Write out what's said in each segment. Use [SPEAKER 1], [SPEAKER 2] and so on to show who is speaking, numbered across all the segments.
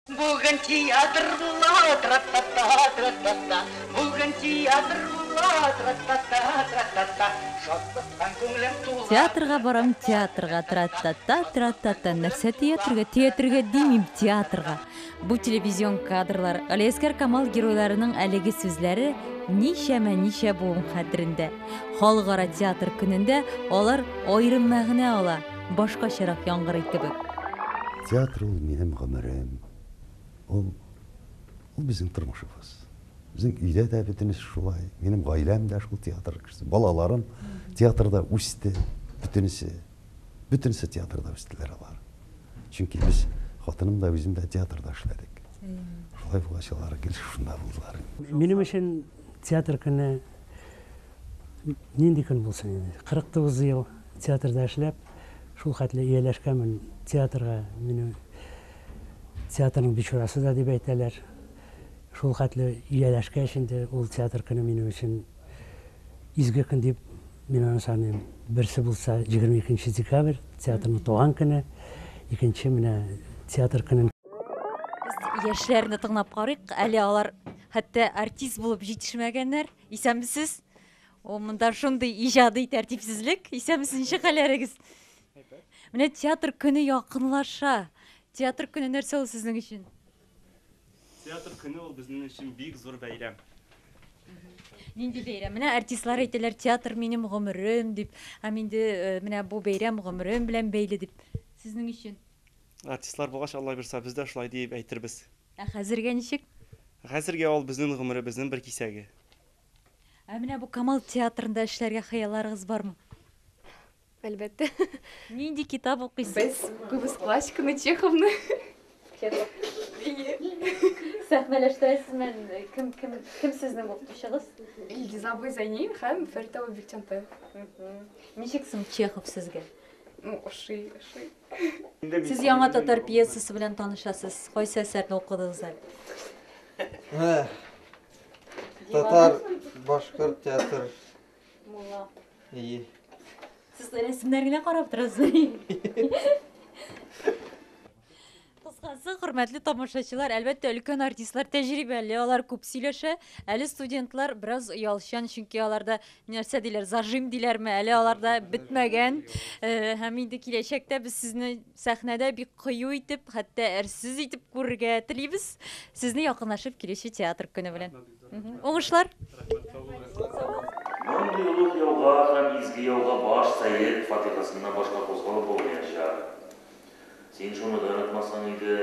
[SPEAKER 1] Бүген театр була, тра-та-та, тра-та-та, Бүген
[SPEAKER 2] театр була, тра-та-та, тра-та-та, Шатлыктан күңелем тула. Театрга барам, театрга, тра-та-та, тра-та-та, Нәрсә театрга, театрга димим, театрга. Бу телевизион кадрлар, Галиәскәр Камал геройларының әлеге сүзләре ничәмә ничә буын хәтерендә. Халыкара театр көнендә алар аерым мәгънә ала, башкачарак яңгырый кебек. Театр
[SPEAKER 3] ул минем гомерем. Ул, ул безнең тормышыбыз. Безнең өйдә дә бөтенесе шулай. Минем гаиләм дә шул театр кешесе. Балаларым театрда үсте, бөтенесе. Бөтенесе театрда үстеләр алар. Чөнки без хатыным да, үзем дә театрда эшләдек. Шулай булгач, алар гел шунда булдылар. Минем өчен
[SPEAKER 4] театр көне Нинди көн булсын инде. 49 ел театрда эшләп, шул хәтле ияләшкәнмен театрга, мине театрның бичурасы да дип әйтәләр. Шул хәтле ияләшкәч инде, ул театр көне минем өчен изге көн дип мин аны саныйм. Берсе булса 22 нче декабрь, театрның туган көне, икенче менә театр көнен. Без
[SPEAKER 2] яшьләрне тыңлап карыйк, әле алар хәтта артист булып җитешмәгәннәр. Исәнмесез. О, монда шундый иҗади тәртипсезлек. Исәнмесез, ничек хәлләрегез? Менә театр көне якынлаша. Театр көне нәрсә ул сезнең өчен?
[SPEAKER 5] Театр көне ул безнең өчен бик зур бәйрәм.
[SPEAKER 2] Нинди бәйрәм? Менә артистлар әйтәләр, театр минем гомерем дип. Һәм инде э, менә бу бәйрәм гомерем белән бәйле дип. Сезнең өчен? Артистлар булгач,
[SPEAKER 5] Алла бирса, без дә шулай диеп әйтербез. Ә хәзергә ничек?
[SPEAKER 2] Хәзергә ул
[SPEAKER 5] безнең гомеребезнең бер кисәге.
[SPEAKER 2] Ә менә бу Камал театрында эшләргә хыялларыгыз бармы?
[SPEAKER 6] Әлбәттә. Нинди
[SPEAKER 2] китап укыйсыз? Без күбез
[SPEAKER 6] классиканы, Чеховны.
[SPEAKER 2] Сәхнәләштерәсезме? Кем, кем, кем сезнең укытучыгыз? Илгиз абый
[SPEAKER 6] Зәйни һәм Фәрит абый Бикчантай.
[SPEAKER 2] Ничек соң Чехов сезгә? Ну, ошый, ошый. Сез яңа татар пьесасы белән танышасыз. Кайсы әсәрне укыдыгыз әле?
[SPEAKER 7] Татар, башкорт театр. Мулла.
[SPEAKER 2] Ие.
[SPEAKER 7] Сез рәсемнәр генә
[SPEAKER 2] карап торасыз. Кыскасы, хөрмәтле тамашачылар, әлбәттә, өлкән артистлар тәҗрибәле, алар күп сөйләшә. Әле студентлар бераз оялчан, чөнки аларда нәрсә диләр, зажим диләрме, әле аларда бетмәгән. Э, Һәм инде киләчәктә без сезне сәхнәдә бик кыю итеп, хәтта әрсез итеп күрергә телибез. Сезне якынлашып килүче театр көне белән. Мгм. Уңышлар!
[SPEAKER 8] Мондый олуг яуга һәм изге яуга баш сәет фатихасыннан башка кузгалып булмаячак. Син шуны да онытмасаң иде.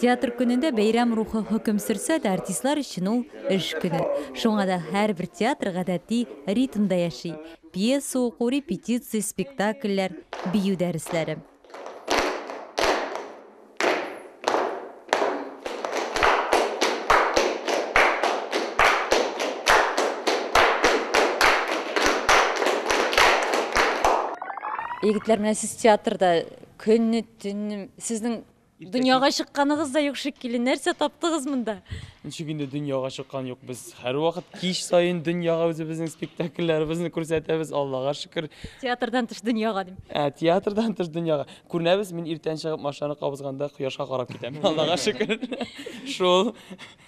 [SPEAKER 8] Театр
[SPEAKER 2] көнендә бәйрәм рухы хөкем сөрсә дә, артистлар өчен ул, эш көне. Шуңа да һәрбер театр гадәти ритмда яши, пьеса уку, репетиция, спектакльләр, бию дәресләре. Егетләр менә сез театрда көнне төнне сезнең дөньяга чыкканыгыз да юк шикелле. Нәрсә таптыгыз монда? Ничек инде дөньяга
[SPEAKER 5] чыккан юк без. Һәрвакыт кич саен дөньяга үзебезнең спектакльләребезне күрсәтәбез, Аллага шөкер. Театрдан тыш дөньяга
[SPEAKER 2] дим. Ә, театрдан тыш
[SPEAKER 5] дөньяга. Күренәбез, мин иртән чыгып машинаны кабызганда кояшка карап китәм. Аллага шөкер. Шул.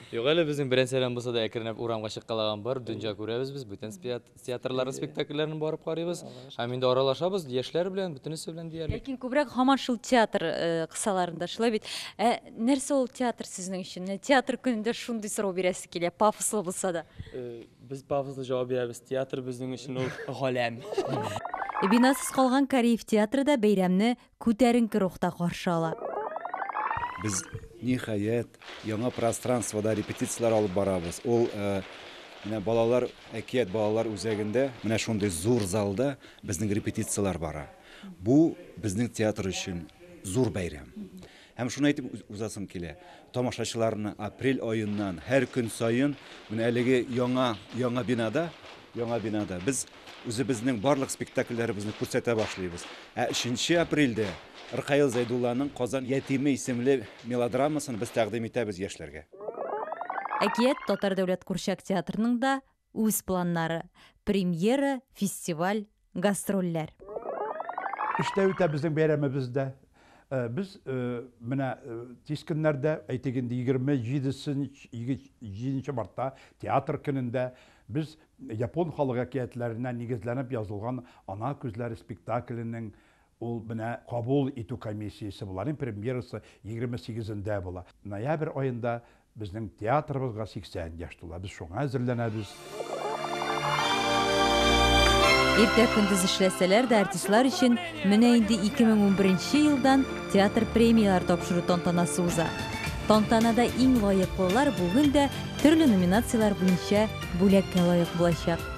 [SPEAKER 5] Юк әле
[SPEAKER 9] безнең беренчеләрдән булса да әкренләп урамга чыккалаган бар, дөнҗа күрәбез без, бүтән спиат- театрларның спектакльләрен барып карыйбыз. Һәм инде аралашабыз яшьләр белән, бөтенесе белән диярлек. Ләкин күбрәк һаман шул
[SPEAKER 2] театр э, кысаларында, шулай бит? Ә нәрсә ул театр сезнең өчен? Менә театр көнендә шундый сорау бирәсе килә, пафослы булса да. Э, Без пафослы
[SPEAKER 5] җавап бирәбез, театр безнең өчен ул галәм. Бинасыз
[SPEAKER 2] калган Кариев театры да бәйрәмне күтәренке рухта каршы ала. Без,
[SPEAKER 3] ниһаять, яңа пространствода репетицияләр алып барабыз. Ул менә балалар, әкият балалар үзәгендә, менә шундый зур залда безнең репетицияләр бара. Бу безнең театр өчен зур бәйрәм. Һәм шуны әйтеп узасым килә, тамашачыларны апрель аеннан һәр көн саен менә әлеге яңа, яңа бинада, яңа бинада без үзебезнең барлык спектакльләребезне күрсәтә башлыйбыз. Ә 3 апрельдә Ркаил Зәйдулланың Казан ятиме исемле мелодрамасын без тәкъдим итәбез яшьләргә.
[SPEAKER 2] Әкият татар дәүләт курчак театрының да үз планнары, премьера, фестиваль,
[SPEAKER 10] гастрольләр. Эштә үтә безнең
[SPEAKER 2] бәйрәмебез
[SPEAKER 10] дә. Без менә тиз көннәрдә, әйтик инде, 27 нче мартта, Театр көнендә без япон халык әкиятләренә нигезләнеп язылган Ана күзләре спектакленең Ул менә кабул итү комиссиясе була. Аның премьерасы егерме сигезендә була. Ноябрь аенда безнең театрыбызга 80 яшь тула. Без шуңа әзерләнәбез.
[SPEAKER 2] Иртә-көндез эшләсәләр дә, артистлар өчен менә инде 2011 нче елдан театр премияләр тапшыру тантанасы уза. Тантанада иң лаеклылар бүген дә төрле номинацияләр буенча бүләккә лаек булачак.